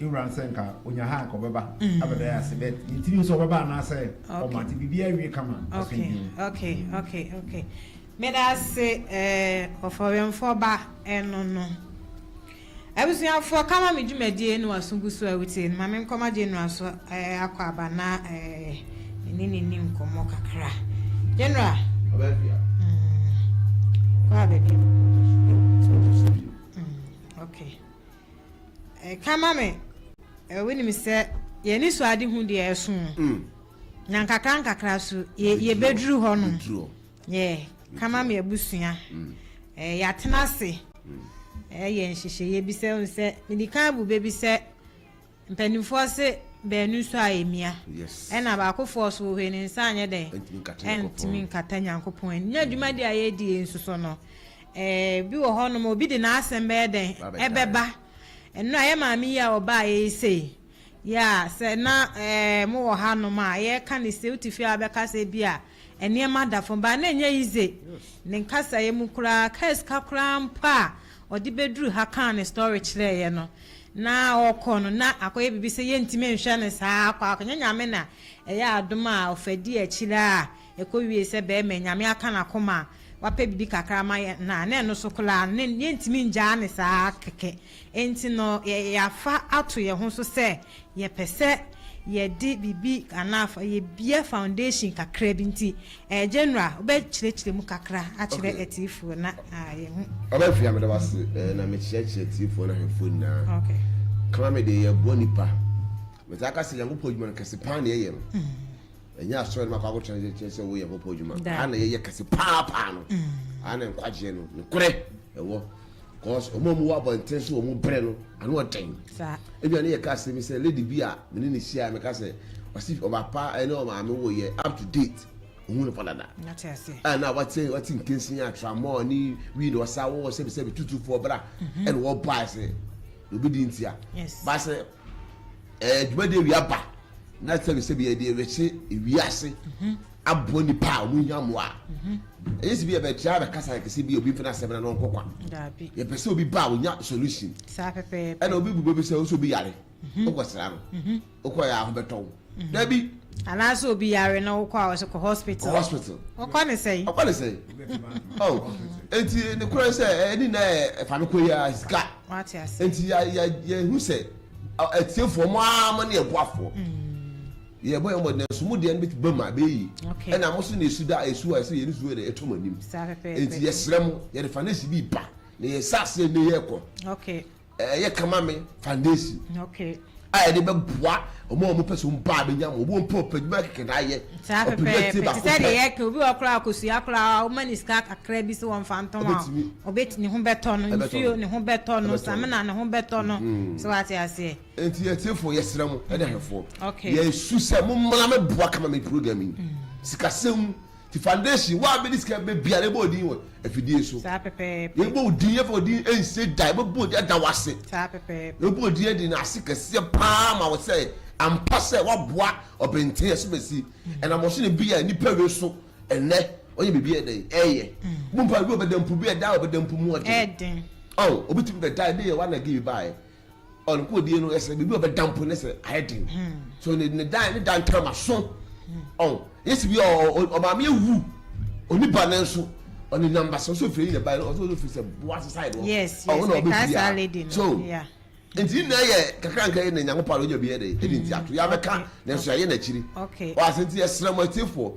Ewura no sɛ nka onya ha anka ɔbɛba abɛda yɛ ase but yɛntumi nso ɔbɛba anaasɛ ɔma nti biribi awie kama asomdwe mu. Okay, okay, okay. Meda ase eh, ɔfɔwemfoɔ ba ɛno no. Abusuafoɔ kama me dwumadie no waso gu so a wotie no ma me nkɔma General so eh, akɔ aba na eh, ne ne ni nkɔmmɔ kakra. General. Ɔbɛ fia. Mm, kɔ abɛbi. Mm, okay. Ɛka ma me wonim sɛ yɛn anisoadehu deɛ ɛso mm. na nkakra nkakra so yɛbɛduru hɔ no yɛ kama me abusua mm. yɛatena ase mm. yɛ nhyehyɛeɛ bi sɛ hu sɛ mede kan abu bɛbi sɛ Mpanimfoɔ se baanu so a ɛmia, ɛna baako foɔ so wɔ hɔ yi ne nsa anyɛ dɛn? Ɛntumi nkata Nyankopɔn anim. Na dwumadie a yɛredi yei nso so no, ebi wɔ hɔ nom obi de n'asɛm bɛyɛ dɛn? Ɛbɛba. Nnora, yɛ maame yi a ɔbaa yɛ yi sei, ya, sɛ na mowɔ ha nom a, yɛreka no sei, wote fie a wobɛka sɛ bi a, Nneɛma da fam. Baa no ɛnyɛ easy ne nkasaeɛ mu koraa kaa sika koraa mpo a ɔde bɛduru ha kaa ne story kyerɛeɛ no na ɔkɔ no na akɔyɛ biribi sɛ yɛntumi nhwɛ no saa akɔ akɔ nyɛ nyame na ɛyɛ adom a ɔfa di akyire a ɛkɔ wie sɛ bɛɛma nyame aka nakoma wapɛ biribi kakra ama yɛ na na ɛno so koraa no ne yɛntumi ngyaa no saa kɛkɛ. Enti no, yɛafa ato yɛn ho so sɛ yɛpɛ sɛ yɛde biribi anaa fa yebue foundation kakra bi. Nti, ɛɛ General, wobɛkyerɛkyerɛ mu kakra akyerɛ Okay. atiefoɔ na ah, yɛhu. Ɔba Afia, meda wo ase eh, na mekyerɛkyerɛ atiefoɔ ne ahwɛfoɔ nyinaa. Okay. Kama me deɛ, yɛboa nnipa. Metaa ka sɛ Nyankopɔn adwuma no, kɛse paa na yɛyɛ no. Ɛnyɛ asɔre no mu akɔ akɔtena ase kyerɛ sɛ woyɛ Nyankopɔn adwuma. Daabi. Aha na yɛyɛ kɛse paa paa no. Aha na nkwagyeɛ no nokorɛ ɛwɔ. cause wɔn a wɔwɔ abɔnten so wɔn brɛ no ano ɔden ebi a ne yɛ ka asɛm sɛ lady bi a me ne ne hyia me ka sɛ ɔsi ɔbapa ɛne ɔmaame wɔ yɛ up to date ohun nipa dada a na wate wate nkansi atramɔ ne wi na ɔsa wɔ sɛbi sɛbi tutu fo ɔbra mhm. ɛna ɔba ɛsɛ obi di ntia baasɛ ɛɛ dwumadie wi aba na sɛbi sɛbi yɛ deɛ wɛkye wi ase. Mhm. aboa nipa a wɔn hia mmoa ɛyɛ sɛ bi yɛ bɛkyerɛ a bɛkasa yɛ kɛse bi obi mfɛn asɛm na ɔnkɔ kwa yɛ pɛ sɛ obi ba a onya solution ɛna obi bu bɛbi sɛ ɔsɛ obi yare ɔkɔ sra no ɔkɔ yɛ aho bɛtɔ wo dabi anaasɛ obi yare na wokɔ a ɔsɛ kɔ hospital kɔ hospital ɔkɔ ne sɛn ɔkɔ ne sɛn ɔn eti ne korɛ sɛ ɛni na ɛfa no kɔ yi a sika eti yɛ yɛ yɛ hu sɛ ɛtiefoɔ mo a mo ne ɛboafoɔ. yɛ bɔ yɛ mɔ na nso mo deɛ no bɛ ba mu a bɛyɛ yi ɛna mo so na esu da esu a ɛsɛ yɛ ne su yɛ na ɛtɔ mo anim nti yɛ srɛ mo yɛ de fanesi bi ba na yɛ sa aseɛ ne yɛ kɔ ɛyɛ kama me fanesi a yɛ de bɛ boa ɔmo a ɔmo pɛ so mo ba bɛ nya mo ɔmo mpɔ pɛ dwuma kɛkɛ na ayɛ ɔpɛ bi ɛte baako pɛ sɛdeɛ yɛ kɛ obi wɔ koraa akosua koraa ɔmo ni sika kakra bi so wɔn fa ntɔn a ɔbɛ ne ho bɛtɔ no nsuo ne ho bɛtɔ no samina ne ho bɛtɔ no so wate aseɛ. Enti atiefo yɛsrɛ mo ne ahwɛfoɔ yɛsu sɛ mo mmra me boa kama me program yi mm. sikasɛm mu ti foundation wa bɛ di sika bɛ bia ne bɔ odin wɔ afidie so yɛ bɔ odin yɛ fɔ odin ɛnse da yɛ bɛ bɔ odin ɛda wase yɛ bɔ odin ɛdi na ase kɛseɛ paa ma wɔ sɛ ampa sɛ waboa ɔbɛnten ɛso bɛ si mm. ɛna mɔso ne bi a nipa wi so ɛnɛ ɔyɛ biribi ɛdɛ ɛyɛ mo mpa bi ɔbɛdɛmpo bi ɛda ɔbɛdɛmpo mu ɔden ɔn obi ti bi bɛ da ɛde yɛ wa na gi bi ba yɛ. ɔno ko odie no ɛsɛ biribi ɔbɛda mpo ne sɛ ayɛ den so ne ne dan ne dan tɛrɛma so ɔn yɛsi bi ɔmaame ewu ɔni ba ne nso ɔne namba sɛ ɔsɔ firi ne ba yɛ ɔsɔ ɔsɔ firi sɛ boa sisa yɛ no ɔwɔ na ɔbɛ fi ya so nti yi nyinaa yɛ kakra nka yɛ na nyanko paalo nya bi yɛ de ɛdi nti ato yɛ abɛka na nso yɛ n'akyiri ɔasɛ nti yɛ srɛ mo atiefo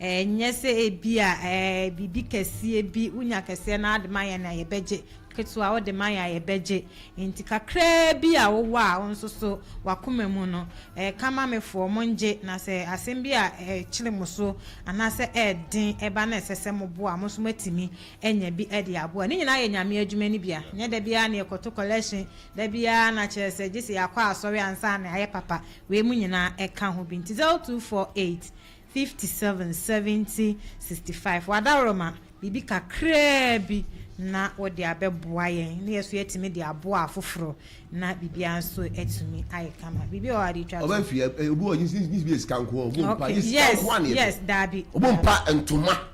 Ɛnyɛ sɛ ebia biribi kɛseɛ bi wonya kɛseɛ no ara de ma yɛn a yɛbɛgye, ketewa wode ma yɛn a yɛbɛgye. Enti kakraa bi a wowɔ a wo nso so w'akoma mu no, ka ma mefoɔ mongye, na sɛ asɛm bi a ɛkyere mo so anaasɛ ɛyɛ den ba na ɛsɛ sɛ moboa a, mo nso moatumi anya bi de aboa. Ne nyinaa yɛ Nyame adwuma no bi a, ɛnyɛ da biara na yɛkɔto collection, da biara na kyerɛ sɛ gye sɛ yɛakɔ asɔre ansa na yɛayɛ papa. Wei mu nyinaa ka ho bi. Nti Zɛl 248. 57 70 65 W'adaworoma, biribi kakraa bi na wode abɛboa yɛn na yɛn so yɛatumi de aboa afoforɔ na biribiara nso atumi ayɛ kama. Biribi wɔ hɔ a wode retwa to? Ɔbɛ fi ɛ, obi wɔ gye gye gye bi yɛ sika nko ɔbɔ mpa Okay, gye sika yes, nko a na yɛ yes, pɛ. daabi, Ɔbɔ daabi. mpa ntoma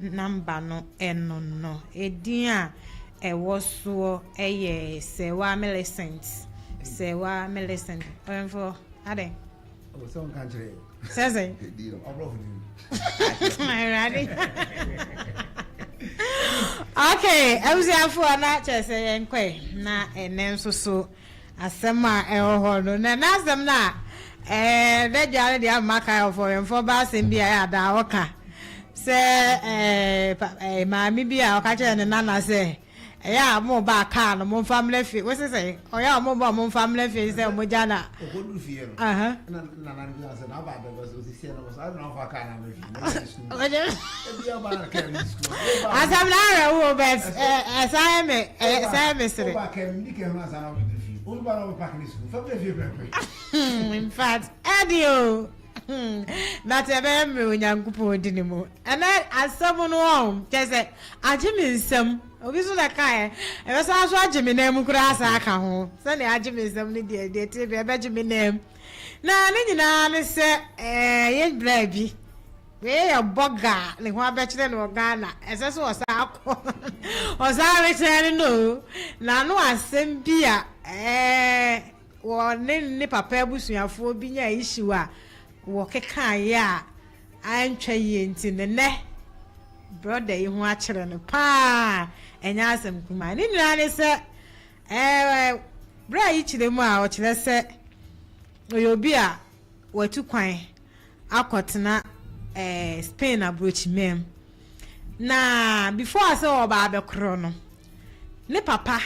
nɔmba no no no edin a ɛwɔ soɔ yɛ Sewaa Millicent. Sewaa Millicent. Ɔyɛmfoɔ, adɛn? Ɔwɔ sɛ ɔnka nkyerɛ yɛ. Sɛ sɛ. Ɛdi no, ɔbrɔfo din. Awurade. Okay, abusuafoɔ na kyerɛ sɛ yɛnkɔe na ɛnɛ nso so. Asɛm a ɛwɔ hɔ no, na ɛnna asɛm no a n'agya no de ama kan ɔfɔwɛmfoɔ ba asɛm bi a ɛyɛ a daa ɔka sɛ maame bi a ɔka kyerɛɛ ne nana sɛ ɛyɛ a moreba a kaa no momfa mmra fie wo se sɛn ɔyɛ a moreba a momfa mmra fie sɛ mogya na asɛm na awɛ wo bɛt ɛsan yɛ me ɛsan yɛ me sere infact ɛde o but ɛbɛyɛ mmerɛ onyankopɔn di ne mu ɛnɛ asɛm no ɔm kyɛ sɛ agye me nsɛm obi so na kaeɛ ɛbɛsan so agye me nan mu koraa saa ka ho sɛdeɛ agye me nsɛm no deɛ deɛ tee bi ɛbɛgye me nan mu Na ne nyinaa ne sɛ ɛyɛ bere bi wei yɛ bɔga a ne ho abɛkyerɛ no wɔ Ghana, ɛsɛ sɛ ɔsan akɔ ɔsan rekyerɛ no no o, na ano asɛm bi a wɔ ne ne papa abusuafoɔ bi nya issue a wɔkekaeɛ a antwa yie nti ne nɛ brɔda yi ho akyerɛ no paa, ɛnyɛ asɛm kumaa. Ne nyinaa ne sɛ Ɛɛ, bere a yikyerɛ mu a ɔkyerɛ sɛ ɔyɛ obi a watu kwan akɔtena ɛɛ Spain aburokyiman mu. Na before sɛ ɔba abɛkorɔ no, ne papa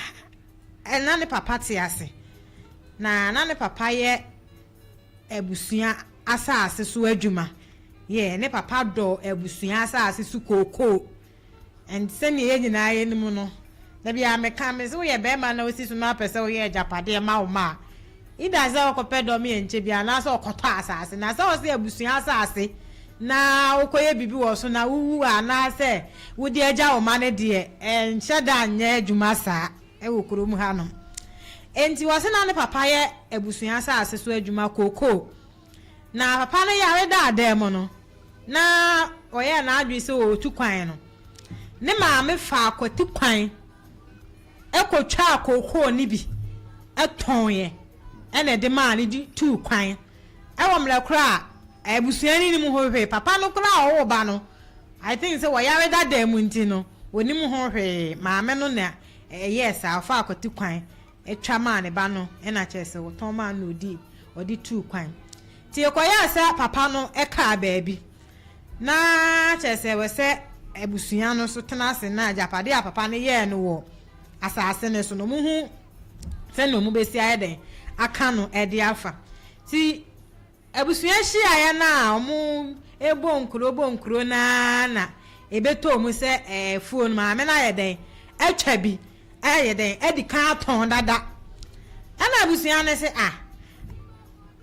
ɛ na ne papa te ase. Na na ne papa yɛ abusua asase so adwuma. Yɛ ne papa dɔ abusua asase so kookoo. And sɛnea yɛn nyinaa yɛnim no, da biara meka, me se woyɛ barima na wosi so na wopɛ sɛ woyɛ agyapadeɛ ma wo mma a, either sɛ wokɔpɛ dɔm yɛ nkyɛ biara anaasɛ wokɔtɔ asase. Na sɛ ɔse abusua asase na wokɔyɛ biribi wɔ so na wowu a, anaasɛ wode agya wo mma no deɛ, ɛnhyɛ da nyɛ adwuma saa wɔ kurom hanom. Enti ɔse na ne papa yɛ abusua asase so adwuma, cocoa. Na papa no yare daa dan mu no, na ɔyɛɛ n'adwene sɛ ɔretu kwan no, ne maame faa kwati kwan kɔtwaa kookoo no bi tɔneɛ na ɛde maa no de tuu kwan. Wɔ mmerɛ korɔ a, abusua no nnim ho hwee. Papa no koraa a ɔwoo ba no, I think sɛ ɔyare da dan mu nti no, ɔnnim ho hwee. Maame no na ɛyɛɛ saa, ɔfaa kwati kwan. twa maa ne ba no na kyerɛ sɛ wɔtɔn maa no na ɔdii ɔde tuu kwan nti ɛkɔyɛɛ sɛ papa no kaa baabi na kyerɛ sɛ wɔ sɛ abusua no so tena ase na agyapade a papa no yɛɛ no wɔ asase no so no mu ho sɛnea ɔmo bɛsi ayɛ dɛn aka no ɛde afa ti Abusua nhyiaeɛ no a wɔbɔ nkuro bɔ nkuro no ara na ɛbɛtɔɔ mu sɛ afuo no maame no ayɛ dɛn atwa bi ayɛ dɛn adi kan atɔn dada. Ɛna abusua no se ah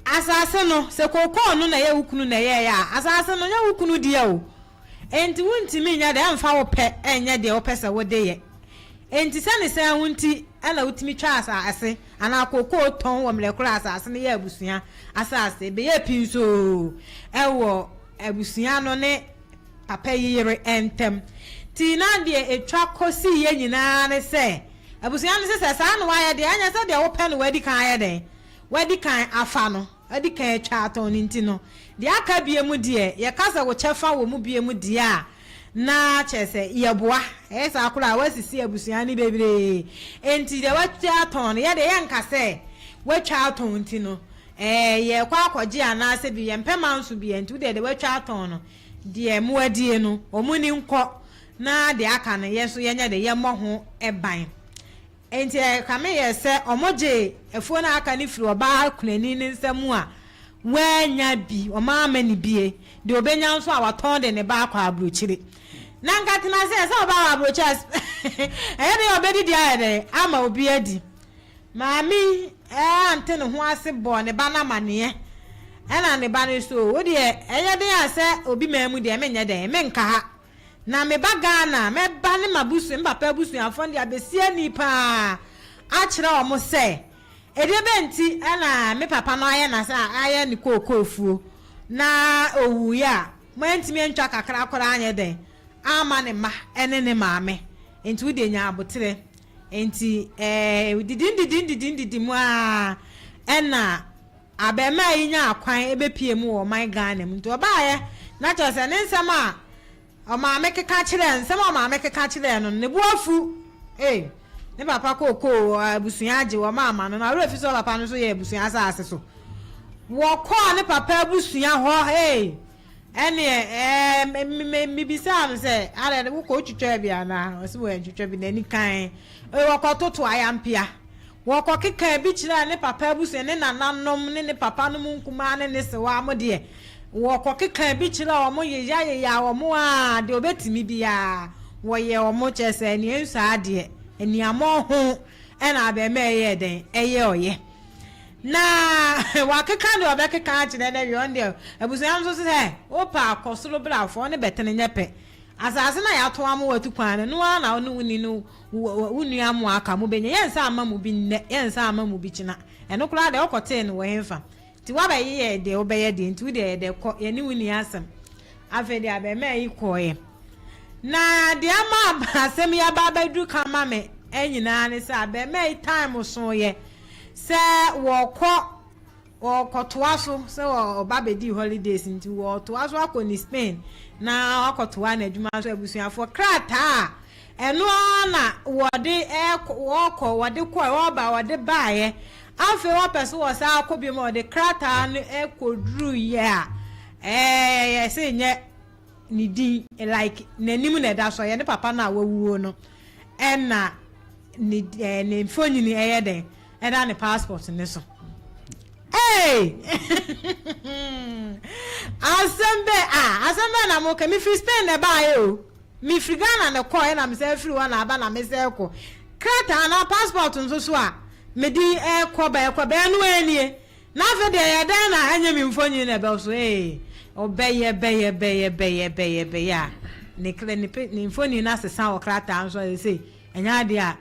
asase no sɛ kookoo no na ɛyɛ wo kunu na ɛyɛɛyɛ a asase no nyɛ wo kunu deɛ o enti wontumi nyɛ dɛn mfa wo pɛ nyɛ deɛ wopɛ sɛ wode yɛ. Enti sɛ ne saa ho nti na wotumi twa asase anaa kokoo tɔn wɔ mmerɛ koro a asase no yɛ abusua asase. Ɛbɛyɛ pi nso oo wɔ abusua no ne papa yi yere ntam. Nti na deɛ ɛtwa kɔ siiɛ nyinaa ne sɛ abusua no se sɛ saa na wayɛ deɛ ɛnyɛ sɛdeɛ wopɛ na wadi kan ayɛ dɛn? Wadi kan afa no, wadi kan atwa atɔn no nti no deɛ aka biom deɛ yɛka sɛ wo kyɛfa wɔ mu biom deɛ a Na kyerɛ sɛ, yɛboa. Ɛyɛ saa koraa a, woasisi abusua no bebree. Enti deɛ woatwa atɔn no, yɛ deɛ yɛnka sɛ woatwa atɔn nti no, ɛɛ, yɛrekɔ akɔgye anaasɛ bi, yɛmpɛ manso biara nti, wo deɛ deɛ woatwa atɔn no, deɛ moadie no, wɔn ani nkɔ, na deɛ aka no, yɛn nso yɛnyɛ dɛ, yɛmmɔ ho ban. Enti ɛkame yɛn sɛ wɔgyee afuo no a aka no firii ɔbaa kunani no nsa mu a wannya bi, wɔama no bie, deɛ ɔbɛnya nso a watɔn de ne ba akɔ aburokyire. Na anka tena ase, ɛsɛ ɔba wɔ aburokyire ase, ɛyɛ dɛn a ɔbɛdidi ayɛ dɛn ama obi adi. Maame yi ante ne ho ase bɔɔ ne ba no amaneɛ, ɛna ne ba no nso, wo deɛ ɛyɛ den a sɛ obi maa mu deɛ menyɛ dɛn, menka ha. na me ba Ghana a, mɛba ne m'abusua, me papa abusuafoɔ no de abɛsi ani paa akyerɛ wɔn sɛ, ɛdeɛ bɛn nti na me papa no ayɛ na sɛ ayɛ ne kookoofuo na ɔwuiɛ a, moantumi antwa kakra koraa anyɛ dɛn amma ne mma ne ne maame, nti wo deɛ nya aboterɛ. Nti ɛɛ, didi didi didi didi mu ara ɛna. Abarimaa yi nyaa kwan bepue mu wɔ ɔman Ghana mu nti ɔbaeɛ na kyerɛ sɛ ne nsɛm a ɔmaame keka kyerɛɛ nsɛm a ɔmaame keka kyerɛɛ no no ne bo afu ei ne papa kookoo abusua agye wɔn ama no na ɔwerɛ fi sɛ ɔpapa no nso yɛ abusua asase so wɔkɔɔ ne papa abusua hɔ ei Ɛnneɛ ɛɛ, me, mebisaa no sɛ, adɛn, wokɔ, wotwitwaa bi anaa? Ɔse wantwitwa bi, n'ani kann. Ɔse wɔkɔtoto ayampea. Wɔkɔkekaa bi kyerɛɛ ne papa abusua, ne nananom, ne ne papanom nkumaa ne ne sewaa mo deɛ. Wɔkɔkekaa bi kyerɛɛ wɔn, yeyayeyaa wɔn ara, deɛ wɔbɛtumi biara, wɔyɛɛ wɔn, kyerɛ sɛ, nea ɛnsɔ ara deɛ, aniammɔn ho na abarimaa yi yɛɛ dɛn? Ɛyɛ ɔyɛ. Na ɔakeka dza ɔbɛkeka akyerɛ no ewie, ɔno deɛ abusuafo so se sɛ wopɛ a kɔ sor bra fa ɔno bɛtsen nyɛ pɛ. Asaase no a yɛato ama wo etu kwan no, no ara na wo no wo ninu, wo nua mo a aka mo benya. Yɛnnsan mma mu bi ndɛ, yɛnnsan mma mu bi kyena. Ɛno koraa deɛ wokɔtsee no wɔ henfa? Ntsi woabɛyeyɛ deɛ wobɛyɛ deɛ, ntsi wo deɛ yɛ dɛ kɔ, yɛne wo nni asɛm. Afei deɛ abarimaa yi kɔeɛ. Na deɛ ama asɛm yi aba abɛduru kan ma me nyinaa ne sɛ, abarimaa yi time soeɛ. Sɛ wɔkɔ, wɔkɔtoa so, sɛ ɔba bɛdii holidays nti wɔtoa so akɔ ne Spain na wakɔtoa n'adwuma so abusuafoɔ krataa a ɛno ara na wɔde ɛkɔ, wɔkɔ, wɔde kɔ, wɔba, wɔde baeɛ, afei wɔpɛ so wɔ saa akɔ bi ma wɔde krataa no ɛkɔduru yɛ a, ɛɛ yɛse nyɛ ne din like n'anim na ɛda so ɔyɛ ne papa no a wawuo no ɛna ne ɛɛ ne mfonini ɛyɛ dɛn ɛda ne passport ne so ee asɛm bɛ a asɛm bɛ na mo ka mefiri Spain na ɛbaeɛ o mefiri Ghana na ɛkɔɔ ɛna mesɛ firi hɔ na aba na mesɛ ɛkɔ krataa na passport nso so a mede ɛkɔ bɛɛkɔ bɛɛ no ɛnie Na afei deɛ ɛyɛ dɛn na ɛnyɛ me mfonyin na ɛbɛw so ee? Ɔbɛyɛ bɛyɛ bɛyɛ bɛyɛ bɛyɛ bɛyɛ a, ne kra ne pe ne mfonyin no asesa wɔ krataa no so ayɛ sei. Ɛnyɛ adeɛ a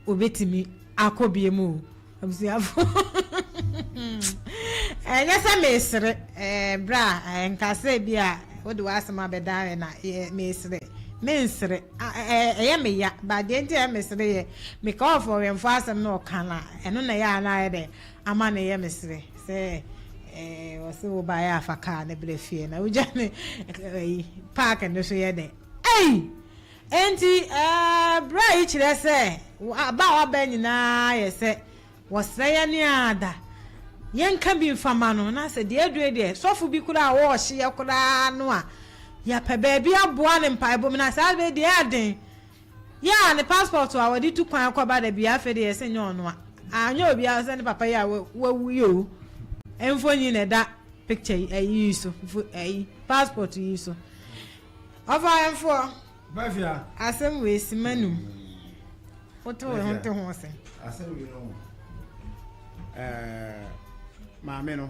obetumi akɔ biem o, abusuafo. Ɛnyɛ sɛ mesere, ɛɛ bra, ɛɛ nka sɛ bi a wode w'asɛm abɛda ayɛ na ɛɛ mesere. Mensere, a ɛɛ ɛyɛ me ya, ba deɛ nti a ɛyɛ mesere yɛ, meka ɔfɔwɛnfo asɛm na ɔka no a, ɛno na ɛyɛ a na ayɛ dɛ Ama no yɛ me sere sɛ eh, ɔse wo baeɛ afa kaa ne berɛ fie na wogya ne ayi park no so yɛ dɛ ei enti eh, berɛ yi kyerɛ sɛ aba a waba nyinaa yɛ sɛ wɔsrɛ yɛ ne ada yɛnka bi mfama no na sɛ deɛ adue deɛ sɔfo bi koraa a wɔɔhyeɛ koraa no a yɛpɛ baabi aboa ne mpaebɔ mu na saa bɛ deɛ aden Yɛ a ne passport a ɔde tu kwan kɔ ba da biara afei de yɛ sɛ nyɛ ɔno a anyɛ obiara sɛ ne papa yi a wawu yi o mfonyin na ɛda picture yi ayi yi so mfo ayi passport yi so ɔfa ɛnfoɔ bafia asɛm wei si ma num wote wo ho te ho sɛ asɛm wei no ɛɛ maame no